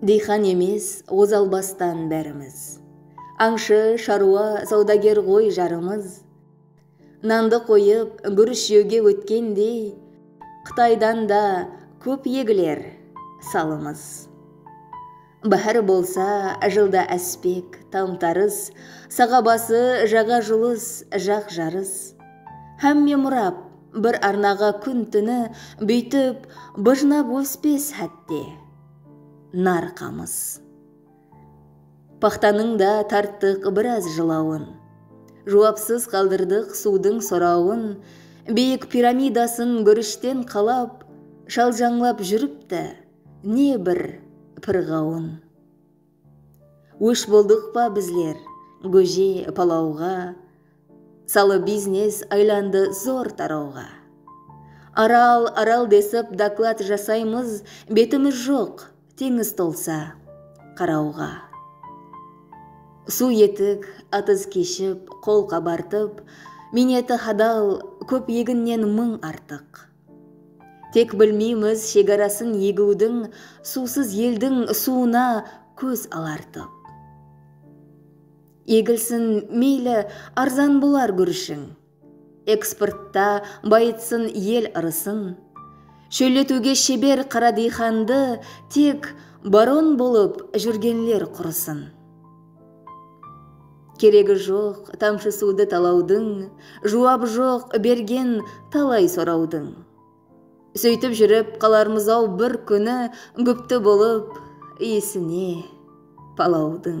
Diyxan emes ozal bastan bárimiz, Ańshı, sharwa, sawdager ǵoy jarımız. Nandı qoyıp, gúrish jewge ótkendey, Qıtaydan da kóp egiler salımız. Báhár bolsa, jılda áspek, tam-tarıs, Saǵa bası, jaǵa julıs, jaq jarıs. Hámme murap, bir arnaǵa kún-túni Búytip, bıjnap óspes hátte, nar qamıs. Paxtanıń da tarttıq biraz jılawın, Juwapsız qaldırdıq suwdıń sorawın, Biyik piramidasın gúrishten qalap, Shaljańlap júripti, Ne bir pirǵawın. Ósh boldıq pa bizler góje palawǵa Salı biznes aylandı zor tarawǵa Aral Aral desip doklad jasaymız Betimiz joq teńiz tolsa qarawǵa Suw etik atız keship qol qabartıp Miyneti hadal kóp eginnen mıń artıq. Tek bilmeymiz shegarasın egiwdiń Suwsız eldiń suwına kóz alartıp. Egilsin, meyli, arzan bolar gúrishiń, Eksportta bayıtsın el ırısın. Shólletiwge sheber qara diyxandı Tek baron bolıp júrgenler qurısın. Keregi joq tamshı suwdı talawdıń, Juwabı joq bergen talay sorawdıń. Sóytip júrip qalarmız-aw bir kúni Gúpti bolıp iyisine palawdıń.